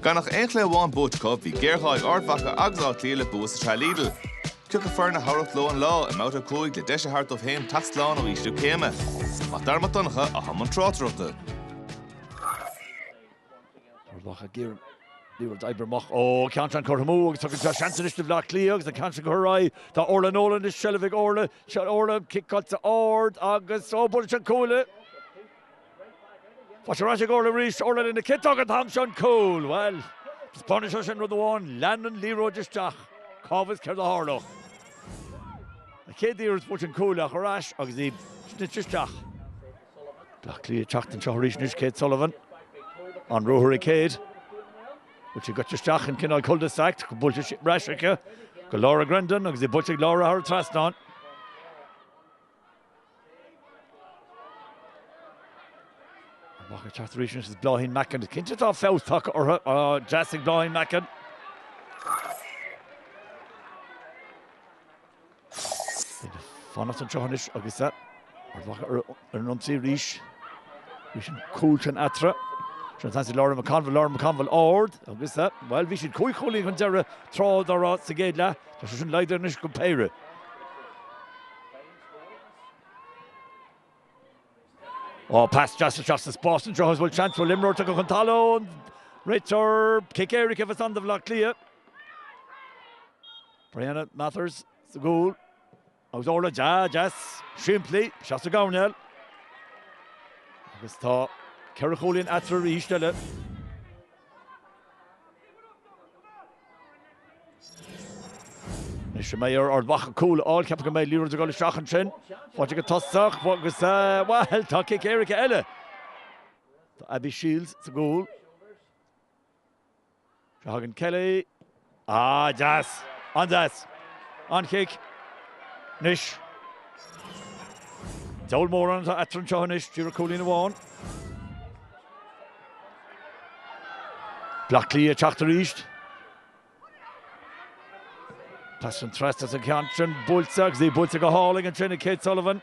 Gan ach aon chluiche amháin buaite acu, bhí géarghá ag Ard Mhacha agus Áth Cliath le bua sa tsraith Lidl. Chaithfeadh foirne na hamhrachta leo an lá i mbabhta a cúig le deis a thabhairt dóibh féin teacht slán ó ísliú céime. Mac Dara Mac Donncha a bhí i mbun tráchtaireachta. Ard Mhacha ag iarraidh liathróid a oibriú amach ó an ceann sin curtha amú agus tugann seo seans anois do Bhleá Cliath agus an ceann sin curtha ar aghaidh. Tá Orlagh Nolan anois seilbh ag Orlagh. Orlagh, cic tugtha ard agus ó buaileadh an cuaille. Faighte ar ais ag Orlagh arís, Orlagh lena ciotóg an t-am seo, an cúl, bhuel, taispeánann sé sin rud amháin, lean an liathróid isteach, cá bhfios céard a tharlódh. An chéad iarracht bhuail sé an cuaille ach ar ais agus í snoite isteach. Bleá Cliath ag teacht anseo arís anois, Kate Sullivan, an ruathar ag Kate, bhuel tá sí gaibhte isteach in cineál cul de sac, buailte ar ais aici go Laura Grendon agus í buailte ag Laura thar an trasnán. Ard Mhacha ag teacht arís anois Bláithín Mackin. Is cinnte tá feabhas tagtha orthu. Deas ansin ag Bláithín Mackin. Fanacht anseo anois agus Ard Mhacha ar an ionsaí arís. Níl ach an cúl sin eatarthu. Trasna ansin ag Lauren McConville, Lauren McConville ard agus bhuel bhí siad cúig chúilín chun deireadh tráth dá raibh sa gcéad leath. Tá sé sin laghdaithe anois go péire. Ó, pas deas isteach sa spás anseo agus an bhfuil seans go bhfuil imreoir tugtha chun talún. Réiteoir cic éirice atá ann do Bhaile Átha Cliath. Brianna Mathers sa gcúl agus Orlagh deas simplí isteach sa gcoirnéal. Agus tá ceithre chúilín eatarthu arís eile. Anois an mbeidh ar Ard Mhacha cúl a fháil? Ceapaim go mbeidh. Liathróid ag dul isteach ansin. Faighte ag an tosaí agus, bhuel, tá cic éirice eile. Tá Abby Shiels sa gcúl. Seo thagann Kelly. Ah, deas. An-deas. An-chic. Anois. Deabhal mórán atá eatarthu anseo anois. Díreach cúilín amháin. Baile Átha Cliath ag teacht arís. Pas ansin trasna an ceann sin buailte agus í buailte go hálainn ansin ag Kate Sullivan.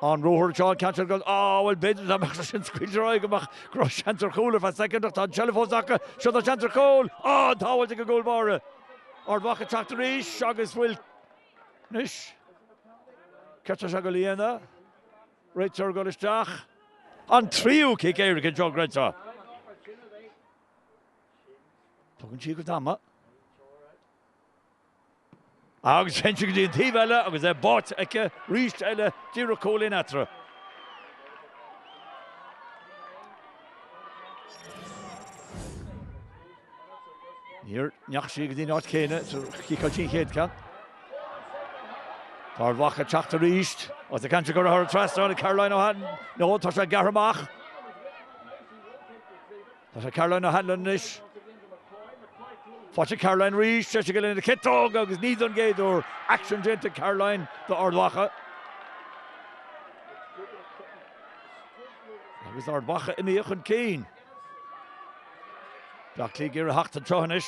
An ruathar seo an ceann sin go Á bhuel b'fhéidir dá mbeadh sé sin scaoilte ar aghaidh go mbeadh go raibh seans ar chúl ar feadh soicind ach tá an tseilbh fós acu. Seo tá seans ar chúl. Á an tsábháilt ag an gcúl báire. Ard Mhacha ag teacht arís agus bhuel anois caithfear é seo a ghlanadh. Réiteoir ag dul isteach an tríú cic éirice anseo Gregso. Tógann sí a cuid ama. Agus téann sí go dtí an taobh eile agus é báite aici arís eile, díreach cúilín eatarthu. Níor ndeachaigh sí go dtí an áit chéanna is a chiceáil sí an chéad cheann. Ard Mhacha ag teacht arís agus a ceantar go ritheartha trasna ag Caroline O'Hanlon. Nó tá sé gearrtha amach. Tá sé ag Caroline O'Hanlon anois. Faighte ag Caroline arís, sé sin go dtí an chiotóg agus ní don chéad uair, éacht déanta ag Caroline do Ard Mhacha. Agus Ard Mhacha imithe chun cinn. Bleá Cliath ag iarraidh a theacht anseo anois.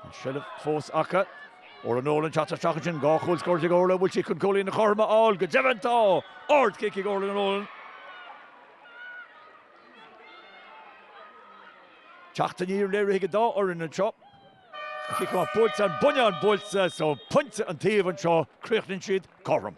An seilbh fós acu. Órla Nolan ag teacht isteach ansin, dhá chúl scóráilte ag Órla, bhfuil sí chun cúilín na cothrom a fháil? Go deimhin tá! Ard chic ag Órla Nolan. Teacht aniar léirithe ag an dá fhoireann anseo. An cic amach buailte, an bonnán buailte so pointe an taobh anseo, críochnaíonn siad cothrom.